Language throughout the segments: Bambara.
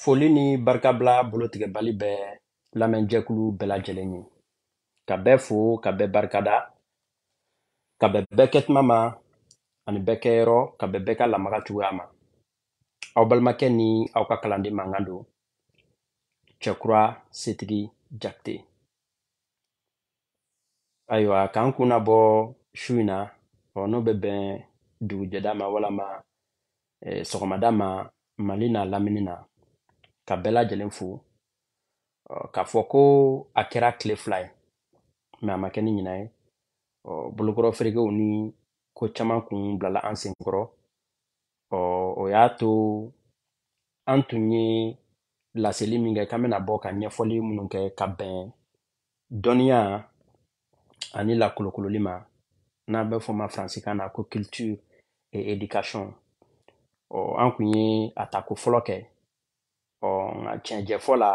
Foli ni barikabila bolotigɛbali bɛ lamɛnjɛkulu bɛɛ lajɛlen ye ka bɛɛ fo ka bɛɛ barikada ka bɛn bɛɛ kɛ tuma ma ani bɛɛ kɛ yɔrɔ ka bɛn bɛɛ ka lamaga cogoya ma aw balimakɛ ni aw ka kalanden mankan don cɛkura setigi jakite ayiwa k'an kunna bɔ su in na ɔ n'o bɛ bɛn dugujɛda ma walama eh, sɔgɔmada ma mali n'a lamini na ka bɛɛ lajɛlen fo k'a fɔ ko a kɛra tile fila ye mais a ma kɛ ni ɲina ye bolokɔrɔ ferekew ni ko caman kun bilala an sen kɔrɔ o y'a to an tun ye laseli min kɛ k'an bɛna bɔ ka ɲɛfɔli minnu kɛ ka bɛn dɔnniya ani lakolokololi ma n'a bɛ fɔ ma faransikan na ko culture et éducation ɔ an kun ye a tako fɔlɔ kɛ ɔ nka tiɲɛjɛfɔ la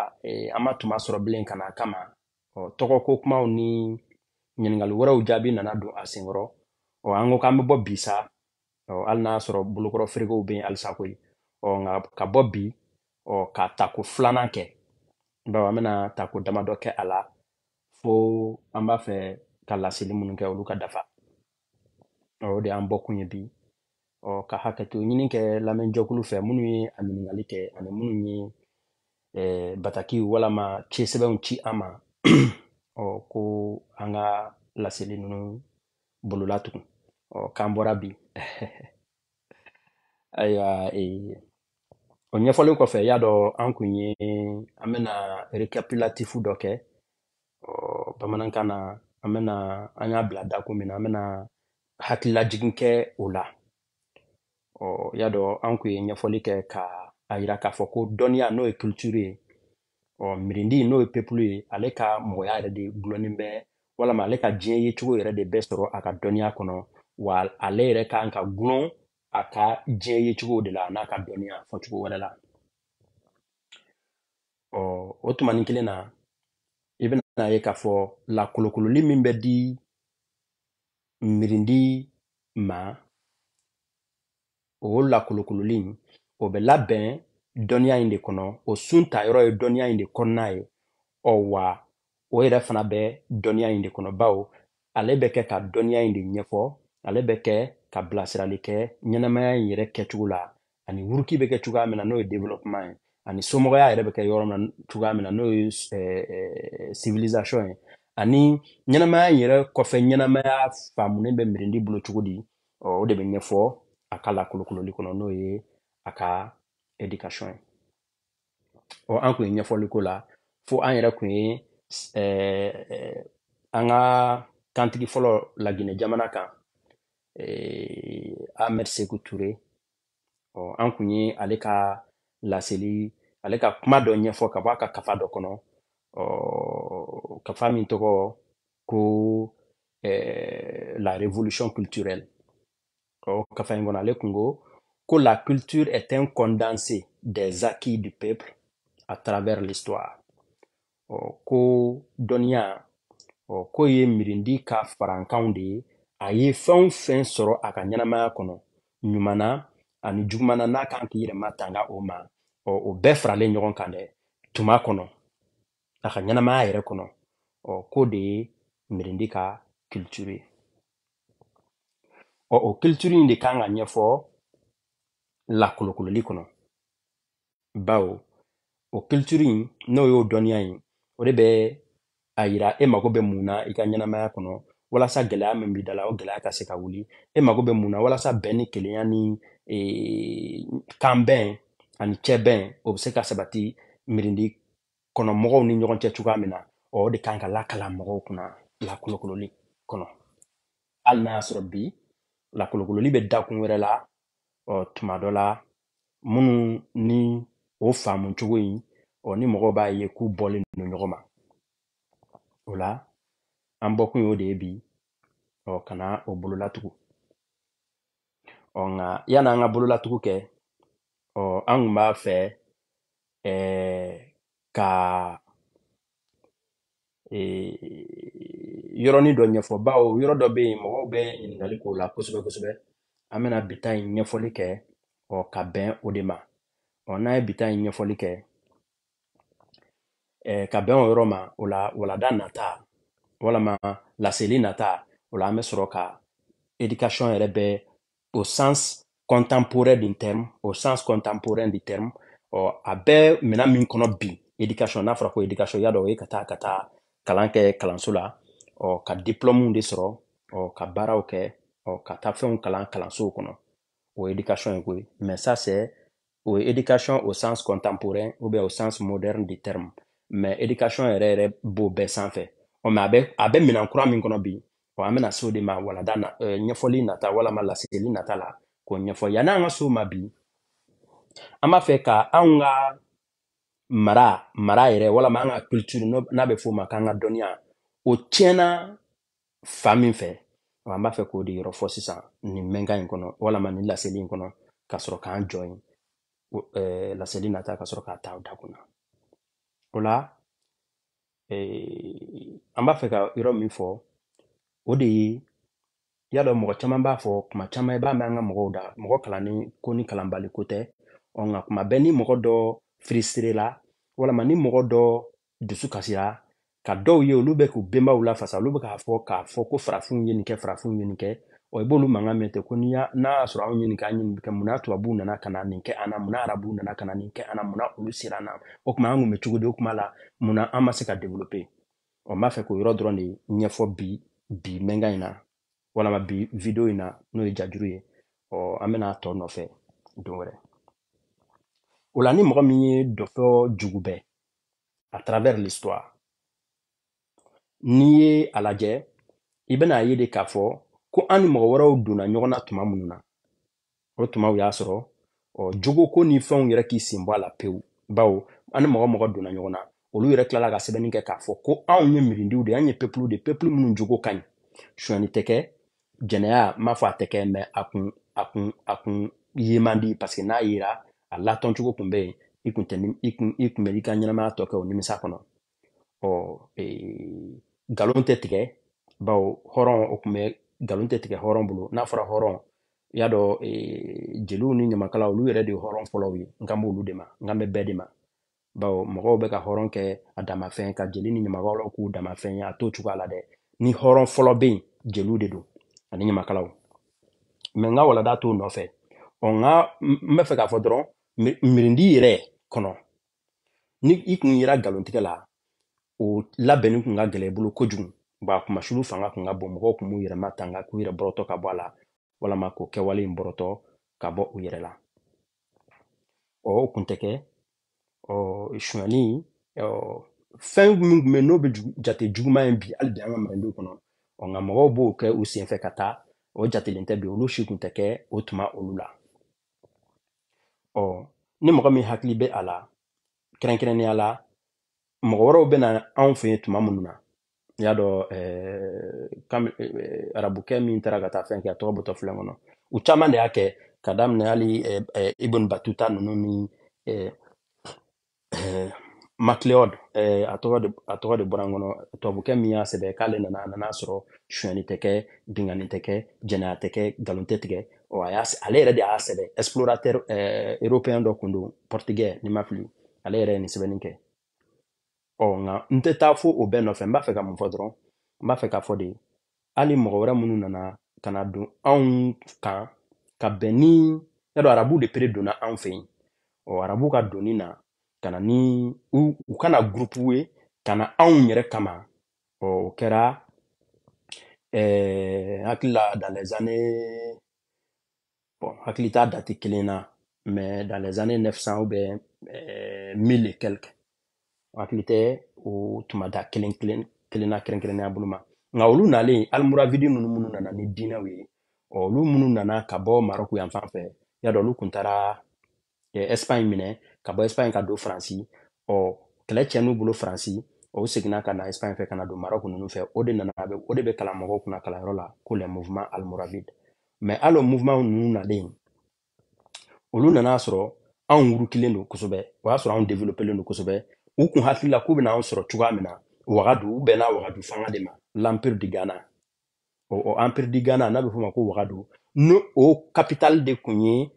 an ma tuma sɔrɔ bilen ka na a kama ɔ tɔgɔko kumaw ni ɲininkali wɛrɛw jaabi nana don a senkɔrɔ ɔ an ko k'an bɛ bɔ bi sa ɔ hali n'a y'a sɔrɔ bolokɔrɔ ferekew bɛ yen halisa koyi ɔ nka ka bɔ bi ɔ ka tako filanan kɛ bawo an bɛna tako damadɔ kɛ a la fo an b'a fɛ ka laseli minnu kɛ olu ka dafa ɔ o de y'an bɔkun ye bi ɔ ka hakɛto ɲini kɛ lamɛnjɛkulu fɛ minnu ye a ɲininkali kɛ ani minnu ye eh, bataki walama cisɛbɛnw ci an ma ɔ ko an ka laseli ninnu bolola tugun ɔ k'an bɔra bi ayiwa ee o ɲɛfɔlen kɔfɛ y'a dɔn an kun ye an bɛna récapitulatif dɔ kɛ ɔ bamanankan na an bɛna an y'a bila dakun min na an bɛna hakililajigin kɛ o la ɔ y'a dɔn an kun ye ɲɛfɔli kɛ ka a yira k'a fɔ ko dɔnniya n'o ye culture ye ɔ mirindi n'o ye peuple ye ale ka mɔgɔya yɛrɛ de gulonnen bɛ walama ale ka diɲɛ yecogo yɛrɛ de bɛ sɔrɔ a ka dɔnniya kɔnɔ wa ale yɛrɛ kan ka gulon a ka diɲɛ yecogo de la n'a ka dɔnniya fɔcogo wɛrɛ la ɔ o tumanin kelen na i bɛna ye k'a fɔ lakolokololi min bɛ di mirindi ma o lakolokololi o bɛ labɛn dɔnniya in de kɔnɔ o sun ta yɔrɔ ye dɔnniya in de kɔnɔna ye ɔ wa o yɛrɛ fana bɛ dɔnniya in de kɔnɔ bawo ale bɛ kɛ ka dɔnniya in de ɲɛfɔ ale bɛ kɛ ka bilasirali kɛ ɲɛnamaya in yɛrɛ kɛcogo la ani wuruki bɛ kɛ cogoya min na n'o ye développement ye ani somɔgɔya yɛrɛ bɛ kɛ yɔrɔ min na cogoya min na n'o ye civilisation ye ani ɲɛnamaya in yɛrɛ kɔfɛ ɲɛnamaya faamulen bɛ mirindi bolo cogo di o de bɛ ɲɛfɔ a ka lakolokololi kɔnɔ n'o ye a ka éducation ye ɔ an kun ye ɲɛfɔli k'o la fo an yɛrɛ kun ye an ka kantigi fɔlɔ Laginɛ jamana kan eh, Ahmed Sékou Touré ɔ an kun ye ale ka laseli ale ka kuma dɔ ɲɛfɔ ka bɔ a ka kafa dɔ kɔnɔ ɔ kafa min tɔgɔ ko eh, la révolution culturelle ɔ kafa in kɔnɔ ale kun ko ko la culture est un condensé des acquis du peuple à travers l'histoire ɔ ko dɔnniya ɔ k'o ye mirindi ka farankanw de ye a ye fɛn o fɛn sɔrɔ a ka ɲɛnamaya kɔnɔ ɲuman na ani juguman na n'a kan k'i yɛrɛ matanga o ma ɔ o bɛɛ faralen ɲɔgɔn kan dɛ tuma kɔnɔ a ka ɲɛnamaya yɛrɛ kɔnɔ ɔ k'o de ye mirindi ka culture ye ɔ o culture in de kan ka ɲɛfɔ lakolokololi kɔnɔ bawo o culture in n'o y'o dɔnniya in o de bɛ a yira e mago bɛ mun na i ka ɲɛnamaya kɔnɔ walasa gɛlɛya min b'i da la o gɛlɛya ka se ka wuli e mago bɛ mun na walasa bɛn ni kelenya ni e, kanbɛn ani cɛbɛn o bɛ se ka sabati mirindi kɔnɔ mɔgɔw ni ɲɔgɔn cɛ cogoya min na o de kan ka lakalan mɔgɔw kunna lakolokololi kɔnɔ hali n'a y'a sɔrɔ bi lakolokololi bɛ dakun wɛrɛ la ɔ tuma dɔ la minnu ni o faamu cogo in ɔ ni mɔgɔw b'a ye k'u bɔlen don ɲɔgɔn ma o la an bɔkun y'o de ye bi ɔ ka na o bololatugu ɔ nka yanni an ka bololatugu kɛ ɔ an kun b'a fɛ ɛɛ ka yɔrɔnin dɔ ɲɛfɔ bawo yɔrɔ dɔ bɛ yen mɔgɔw bɛ ɲininkali k'o la kosɛbɛ kosɛbɛ an bɛna bi ta in ɲɛfɔli kɛ ɔ ka bɛn o de ma ɔ n'an ye bi ta in ɲɛfɔli kɛ eh, ka bɛn o yɔrɔ ma o la walada nata walama laseli nata o la an bɛ sɔrɔ ka éducation yɛrɛ bɛɛ au sens contemporain du terme au sens contemporain du terme ɔ a bɛɛ minɛ min kɔnɔ bi éducation n'a fɔra ko éducation y'a dɔn o ye ka taa kalan kɛ kalanso la ɔ ka diplɔmuw de sɔrɔ ɔ ka baaraw kɛ ɔ ka taa fɛnw kalan kalansow kɔnɔ o ye éducation ye koyi mais ça c'est o ye education au sens contemporain ou bien au sens moderne du terme mais education yɛrɛ yɛrɛ b'o bɛɛ sanfɛ ɔ mais a bɛ a bɛ minɛn kura min kɔnɔ bi ɔ an bɛna se o de ma walada na euh, ɲɛfɔli nata walama laseli nata la k'o ɲɛfɔ yanni an ka se o ma bi an b'a fɛ ka anw ka mara mara yɛrɛ walama an ka culture n'a bɛ f'o ma k'an ka dɔnniya o tiɲɛna fan min fɛ an b'a fɛ k'o de yɔrɔ fɔ sisan nin mɛnkan in kɔnɔ walama nin laseli in kɔnɔ ka sɔrɔ k'an jɔ yen eh, laseli nata ka sɔrɔ k'a ta da kunna o la eh, an b'a fɛ ka yɔrɔ min fɔ o de ye y'a dɔn mɔgɔ caman b'a fɔ kuma caman i b'a mɛn an ka mɔgɔw da mɔgɔ kalannen ko ni kalanbali ko tɛ ɔ nka kuma bɛɛ ni mɔgɔ dɔ frustré la walama ni mɔgɔ dɔ dusu kasira ka dɔw ye olu bɛ k'u benbaw lafasa olu bɛ k'a fɔ k'a fɔ ko farafinw ye nin kɛ farafinw ye nin kɛ ɔ i b'olu mankan mɛn ten ko ni y'a n'a y'a sɔrɔ anw ye nin kɛ an ye nin kɛ mun na tubabuw nana ka na nin kɛ an na mun na arabuw nana ka na nin kɛ an na mun na olu sera an na o tuma an kun bɛ cogo di o kuma la mun na an ma se ka developper ɔ n b'a fɛ k'o yɔrɔ dɔrɔn de ɲɛfɔ bi bi mɛnkan in na walama bi video in na n'o ye jajuru ye ɔ an bɛna a tɔ nɔfɛ don wɛrɛ o la ni mɔgɔ min ye dɔfɔ jugubɛ à travers l'histoire n'i ye a lajɛ i bɛna a ye de k'a fɔ ko an ni mɔgɔ wɛrɛw donna ɲɔgɔn na tuma minnu na o tumaw y'a sɔrɔ ɔ jogoko ni fɛnw yɛrɛ k'i sen bɔ a la pewu bawo an ni mɔgɔ mɔgɔ donna ɲɔgɔn na olu yɛrɛ tilala ka sɛbɛnni kɛ k'a fɔ ko anw ye mirindiw de ye an ye peuple de peuple minnu jogo ka ɲi sonyani tɛ kɛ jɛnɛya n m'a fɔ a tɛ kɛ mais a kun a kun a kun ye man di parce que n'a yera a latɔn cogo kun bɛ yen i kun tɛ i kun i kun bɛ i ka ɲɛnamaya tɔ kɛ o nimisa kɔnɔ ɔ ee, nkalon tɛ tigɛ bawo hɔrɔn o kun bɛ nkalon tɛ tigɛ hɔrɔn bolo n'a fɔra hɔrɔn i y'a dɔn ee, jeliw ni ɲamakalaw olu yɛrɛ de ye hɔrɔn fɔlɔw ye n kan b'olu de ma n kan bɛ bɛɛ de ma bawo mɔgɔw bɛ ka hɔrɔn kɛ a damafɛn ka jeli ni ɲamakalaw k'u damafɛn ye a t'o cogoya la dɛ ni hɔrɔn fɔlɔ bɛ yen jeliw de don ani ɲamakalaw mais n ka walada t'o nɔfɛ ɔ n ka n bɛ fɛ k'a fɔ dɔrɔn mirindi yɛrɛ kɔnɔ ni i kun yera nkalontigɛ la o labɛnni kun ka gɛlɛ i bolo kojugu ba kumasulu fanga kun ka bon mɔgɔw kun b'u yɛrɛ matanga k'u yɛrɛ bɔrɔtɔ ka bɔ a la walama k'o kɛwale in bɔrɔtɔ ka bɔ u yɛrɛ la ɔ o kun tɛ kɛ ɔ sonyani ɔ fɛn min kun bɛ n'o bɛ jugu- jate juguman ye bi hali bi an ka manden kɔnɔ ɔ nka mɔgɔw b'o kɛ u senfɛ ka taa o jatelen tɛ bi olu si kun tɛ kɛ o tuma olu la ɔ ni mɔgɔ min hakili bɛ a la kɛrɛnkɛrɛnnenya la mɔgɔ wɛrɛw bɛ na anw fɛ yen tuma minnu na i y'a dɔn arabukɛ min taara ka taa fɛn kɛ a tɔgɔ bɔtɔ filɛ n kɔnɔ u caman de y'a kɛ ka daminɛ hali ibn batuta ninnu ni macleod a tɔgɔ de bɔra n kɔnɔ tubabukɛ min y'a sɛbɛn k'ale nana a nana sɔrɔ sonyani tɛ kɛ binkanni tɛ kɛ jɛnɛya tɛ kɛ nkalon tɛ tigɛ ale yɛrɛ de y'a sɛbɛn explorateur européen dɔ kun don portugais ni n ma fili ale yɛrɛ ye nin sɛbɛnni kɛ ɔ nka n tɛ taa fo o bɛɛ nɔfɛ n b'a fɛ ka mun fɔ dɔrɔn n b'a fɛ k'a fɔ de hali mɔgɔ wɛrɛ minnu nana ka na don anw kan ka bɛn ni y'a dɔn arabu de pere donna anw fɛ yen ɔ arabu ka donni na ka na ni u u kana gurupu ye ka na anw yɛrɛ kama ɔ o kɛra ɛɛ hakili la dans les années bon hakili t'a dati kelen na mais dans les années 900 ou bien euh, 1000 et quelques hakili tɛ o tuma da kelen kelen kelen na kɛrɛnkɛrɛnnenya bolo ma nka olu nalen almuravidi ninnu minnu nana ni diinɛw ye ɔ, olu minnu nana ka bɔ marɔku yan fan fɛ y'a dɔn olu kun taara ɛsipaɲi minɛ ka bɔ ɛsipaɲi ka don faransi ɔ kɛlɛ cɛn'u bolo faransi o seginna ka na ɛsipaɲi fɛ ka na don marɔku ninnu fɛ o de nana o de bɛ kalan mɔgɔw kunna kalanyɔrɔ la ko le mouvement almoravide mais hali o mouvement ninnu nalen olu nana sɔrɔ anw wurukilen don kosɛbɛ o y'a sɔrɔ anw developelen don kosɛbɛ u kun hakili la k'u bɛna anw sɔrɔ cogoya min na wagadu u bɛnna wagadu fanga de ma l'empire du ghana o, o empire du ghana n'a bɛ f'o ma ko wagadu ni o capitale de kun ye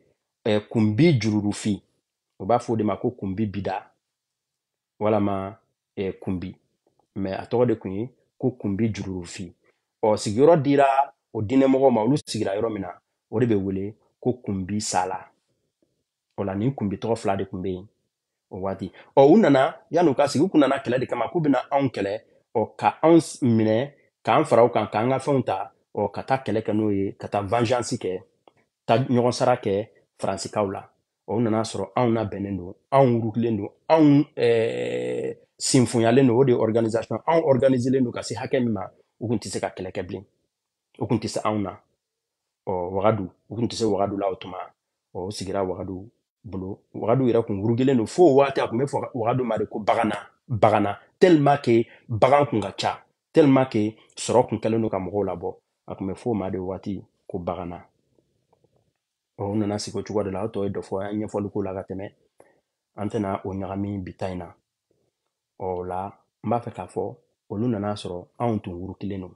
eh, kunbi jururufi u b'a f'o de ma ko kunbi bida walama eh, kunbi mais a tɔgɔ de kun ye ko kunbi jururufi ɔ sigiyɔrɔ dira o diinɛmɔgɔw ma olu sigira yɔrɔ min na o de bɛ wele ko kunbi sala o la nin kunbi tɔgɔ fila de kun bɛ yen o waati ɔ u nana yan'u ka sigi u kun nana kɛlɛ de kama k'u bɛna anw kɛlɛ ɔ ka anw minɛ k'an fara u kan k'an ka fɛnw ta ɔ ka taa kɛlɛ kɛ n'o ye ka taa vengeance kɛ ta ɲɔgɔn sara kɛ faransikaw la ɔ u nana sɔrɔ anw labɛnnen don anw wurukilen don anw eh, sinfonyalen don o de ye organisation anw organiselen don ka se hakɛ min ma u kun tɛ se ka kɛlɛ kɛ bilen u kun tɛ se anw na ɔ wagadu u kun tɛ se wagadu la o tuma ɔ u sigira wagadu bolo wagadu yɛrɛ kun wurukilen don fo o waati a kun bɛ fɔ wagadu ma de ko bagana bagana tellement que bagan kun ka ca tellement que sɔrɔ kun kɛlen don ka mɔgɔw labɔ a kun bɛ fɔ o ma de waati ko bagana ɔ u nana sigi o cogo de la o tɔ ye dɔfɔ an ye ɲɛfɔli k'o la ka tɛmɛ an tɛna o ɲagami bi ta in na ɔ o la n b'a fɛ k'a fɔ olu nana sɔrɔ anw tun wurukilen don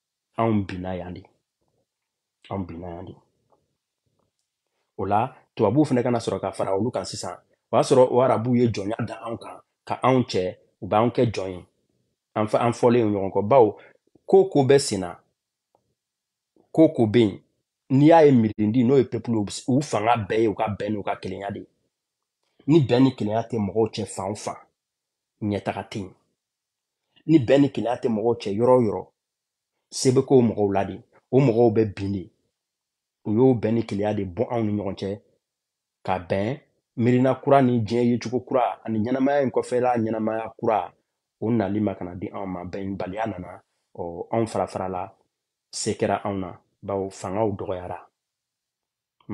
anw binna yan de anw binna yan de o la tubabuw fana ka na sɔrɔ ka fara olu kan sisan o y'a sɔrɔ o arabuw ye jɔnya da anw kan ka anw cɛ u b'an kɛ jɔn ye an fa an fɔlen ɲɔgɔn kɔ bawo ko o ko bɛ sen na ko o ko bɛ yen n'i y'a ye mirindi n'o ye peuple u fanga bɛɛ ye u ka bɛn n'u ka kelenya de ye ni bɛn ni kelenya tɛ mɔgɔw cɛ fan o fan ɲɛtaga tɛ yen ni bɛn ni kelenya tɛ mɔgɔw cɛ yɔrɔ o yɔrɔ se bɛ k'o mɔgɔw la de o mɔgɔw bɛ bin de u y'o bɛn ni kelenya de bɔ anw ni ɲɔgɔn cɛ ka bɛn miirina kura ni diɲɛ yecogo kura ani ɲɛnamaya in kɔfɛla ɲɛnamaya kura o nali ma ka na di anw ma bɛnbaliya nana ɔ anw farafara la se kɛra anw na bawo fangaw dɔgɔyara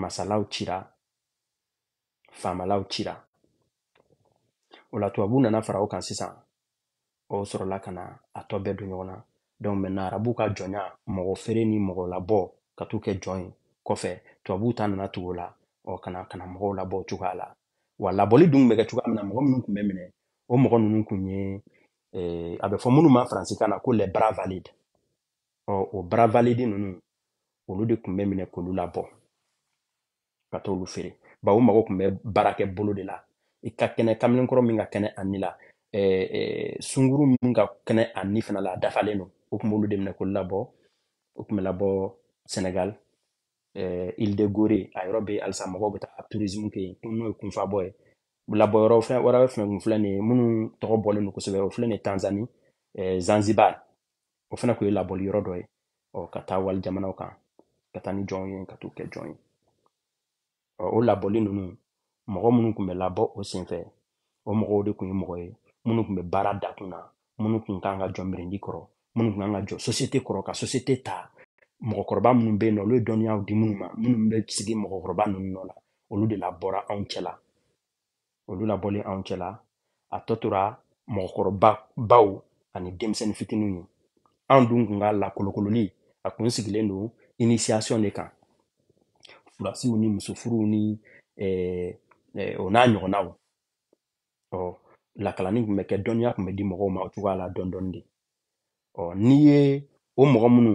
masalaw cira faamalaw cira o la tubabu nana fara o kan sisan o sɔrɔla ka na a tɔ bɛɛ don ɲɔgɔn na donc maintenant arabu ka jɔnya mɔgɔ feere ni mɔgɔ labɔ ka t'u kɛ jɔn ye kɔfɛ tubabu ta nana tugu o la ɔ ka na ka na mɔgɔw labɔ o cogoya la wa labɔli dun bɛ kɛ cogoya min na mɔgɔ minnu kun bɛ minɛ o mɔgɔ ninnu kun ye eh, a bɛ fɔ minnu ma faransikan na ko les bras valides ɔ o bras valides ninnu olu de kun bɛ minɛ k'olu labɔ ka t'olu feere bawo o mago kun bɛ baarakɛ bolo de la i ka kɛnɛ kamalenkɔrɔ min ka kɛnɛ a ni la eh, eh, sunguru min ka kɛnɛ a ni fana la a dafalen don o kun b'olu de minɛ k'olu labɔ o kun bɛ labɔ senegal eh, île de gorée a yɔrɔ bɛ halisa mɔgɔw bɛ taa tourisme kɛ yen n'o ye kunfabɔ ye labɔ yɔrɔ fɛn wɛrɛ fɛnɛ kun filɛ nin ye minnu tɔgɔ bɔlen don kosɛbɛ o filɛ nin ye tanzanie eh, zanzibar o fana kun ye labɔli yɔrɔ dɔ ye ɔ ka taa wali jamanaw kan ka taa ni jɔnw ye ka t'u kɛ jɔn ye ɔ o labɔli ninnu mɔgɔ minnu kun bɛ labɔ o senfɛ o mɔgɔw de kun ye mɔgɔ ye minnu kun bɛ baara da kun na minnu kun kan ka jɔ mirindi kɔrɔ minnu kun kan ka jɔ sosiyete kɔrɔ ka sosiyete ta mɔgɔkɔrɔba minnu bɛ yen n'olu ye dɔnniyaw di minnu ma minnu bɛ sigi mɔgɔkɔrɔba ninnu nɔ la olu de labɔra anw cɛla olu labɔlen anw cɛla a tɔ tora mɔgɔkɔrɔbaw ani denmisɛnnin fitininw ye anw dun kun ka lakolokololi a kun sigilen don initiation de kan furasiw ni musofuruw ni eh, eh, o n'a ɲɔgɔnnaw ɔ lakalanni kun bɛ kɛ dɔnniya kun bɛ di mɔgɔw ma o cogoya la dɔɔni dɔɔni de ɔ n'i ye o mɔgɔ minnu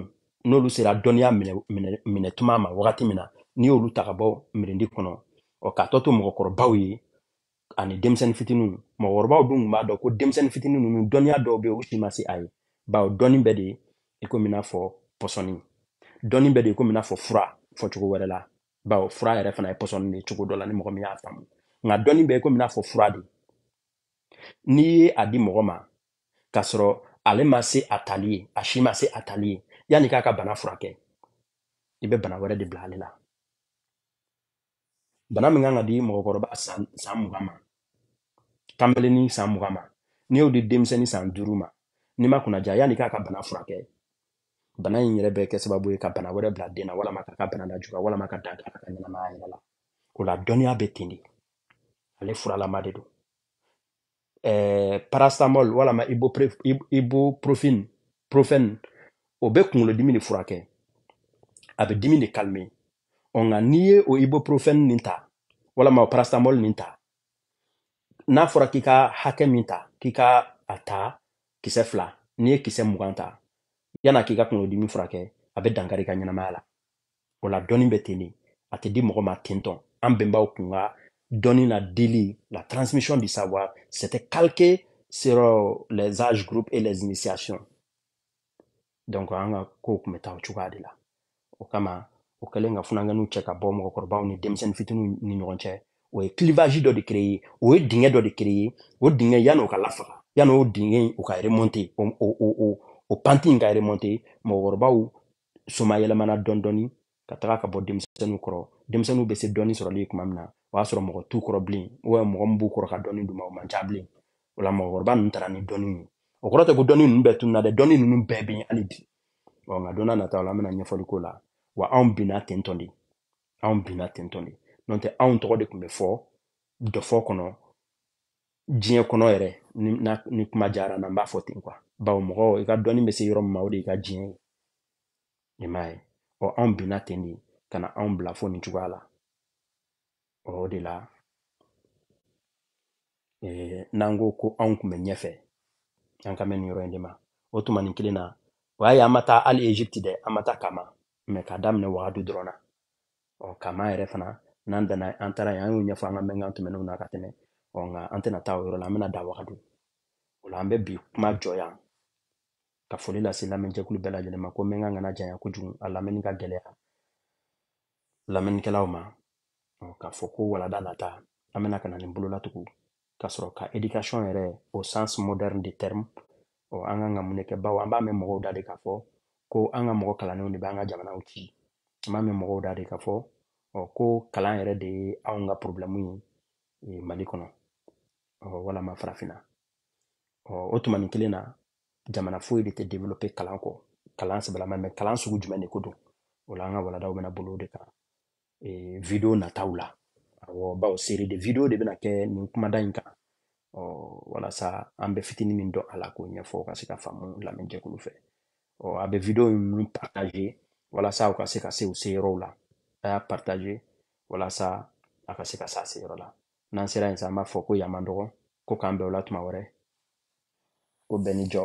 n'olu sera dɔnniya minɛ minɛ minɛ tuma ma wagati min na n'i y'olu ta ka bɔ mirindi kɔnɔ ɔ k'a tɔ to mɔgɔkɔrɔbaw ye ani denmisɛnnin fitininw mɔgɔkɔrɔbaw dun kun b'a dɔn ko denmisɛnnin fitinin ninnu dɔnniya dɔw bɛ yen u si ma se a ye bawo dɔnni bɛ de i komi i n'a fɔ pɔsɔni dɔnni bɛ de i komi i n'a fɔ fura fɔcogo wɛrɛ la bawo fura yɛrɛ fana ye pɔsɔni de ye cogo dɔ la ni mɔgɔ min y'a faamu nka dɔnni bɛ i komi i n'a fɔ fura de n'i ye a di mɔgɔ ma k'a sɔrɔ ale ma se a tali ye a si ma se a tali ye yanni k'a ka bana furakɛ i bɛ bana wɛrɛ de bila ale la bana min kan ka di mɔgɔkɔrɔba san mugan ma kanbelenni san mugan ma n'i y'o di denmisɛnnin san duuru ma n'i ma kunnaja yanni k'a ka bana furakɛ bana in yɛrɛ bɛ kɛ sababu ye ka bana wɛrɛ bila den na walama k'a ka bana lajuguya walama ka dan k'a ka ɲɛnamaya yɛrɛ la o la dɔnniya bɛ ten de ale furalama de don eh, paracetamol walama ibuprofen o bɛ kunkolodimi de furakɛ a bɛ dimi de calmer ɔ nka n'i ye o ibuprofen nin ta walama o paracetamol nin ta n'a fɔra k'i ka hakɛ min ta k'i ka a ta kisɛ fila n'i ye kisɛ mugan ta yann'a k'i ka kunkolodimi furakɛ a bɛ dankari i ka ɲɛnamaya la o la dɔnni bɛ ten de a tɛ di mɔgɔ ma ten tɔn an bɛnbaw kun ka dɔnni na dili la transmission du savoir c'était calqué sur euh, les âges groupes et les initiations donc an ka kow tun bɛ taa o cogoya de la o kama o kɛlen ka funankɛninw cɛ ka bɔ mɔgɔkɔrɔbaw ni denmisɛnnin fitininw ni ɲɔgɔn cɛ o ye clivage dɔ de créer o ye dingɛ dɔ de créer o dingɛ yanni o ka lafa yanni o dingɛ in o ka remonter o o o o o pente in ka remonter mɔgɔkɔrɔbaw somayɛlɛmana dɔɔni dɔɔni ka taga ka bɔ denmisɛnninw kɔrɔ denmisɛnninw bɛ se dɔnni sɔrɔli tuma min na o y'a sɔrɔ mɔgɔ t'u kɔrɔ bilen wa mɔgɔ min b'u kɔrɔ ka dɔnni d'u ma o man ca bilen o la mɔgɔkɔrɔba ninnu taara ni dɔnni ye o kɔrɔ tɛ ko dɔnni ninnu bɛɛ tununa dɛ dɔnni ninnu bɛɛ bɛ yen hali bi ɔ nka don nataw la an bɛna ɲɛfɔli k'o la wa anw binna ten tɔn de anw binna ten tɔn de n'o tɛ anw tɔgɔ de tun bɛ fɔ dɔfɔ kɔnɔ diɲɛ kɔnɔ yɛrɛ ni, na, ni kuma diyara n na n b'a fɔ ten quoi bawo mɔgɔ i ka dɔnni bɛ se yɔrɔ min ma o de y'i ka diɲɛ ye i m'a ye ɔ anw binna ten de ka na anw bila fo nin cogoya la ɔ o de la eh, n'an ko ko anw tun bɛ ɲɛfɛ an kan bɛ nin yɔrɔ in de ma o tuma nin kelen na o y'a ye an ma taa hali egypte dɛ an ma taa kama mɛ k'a daminɛ wagadu dɔrɔn na ɔ kama yɛrɛ fana n'an dana an taara yen an y'o ɲɛfɔ an ka mɛnkan tɛmɛnenw na ka tɛmɛ ɔ nka an tɛna taa o yɔrɔ la an bɛna dan wagadu o la an bɛ bi kuma jɔ yan ka foli lase lamɛnjɛkulu bɛɛ lajɛlen ma ko mɛnkan kana janya kojugu a lamɛnni ka gɛlɛya lamɛnnikɛlaw ma ɔ k'a fɔ ko walanda nata an bɛna ka na nin bolo latugu ka sɔrɔ ka éducation yɛrɛ au sens moderne du terme ɔ an kan ka mun de kɛ bawo an b'a mɛn mɔgɔw da de k'a fɔ ko an ka mɔgɔ kalannenw de bɛ an ka jamanaw ci an b'a mɛn mɔgɔw da de k'a fɔ ɔ ko kalan yɛrɛ de ye anw ka problɛmu ye mali kɔnɔ ɔ walama farafinna ɔ o tuma nin kelen na jamana foyi de tɛ développer kalan kɔ kalan sɛbɛlama mɛ kalan sugu jumɛn de ko don o la an ka walandaw bɛna boli o de kan ee video nataw la awɔ bawo série de video de bɛna kɛ nin kumada in kan ɔ walasa an bɛ fitini min dɔn a la k'o ɲɛfɔ ka se ka faamu lamɛnjɛkulu fɛ ɔ a bɛ video ninnu partager walasa u ka se ka se u se yɔrɔw la a y'a partager walasa a ka se ka s'a se yɔrɔ la n'an sera yen sa an b'a fɔ ko yan man dɔgɔ ko k'an bɛn o la tuma wɛrɛ ko bɛɛ ni jɔ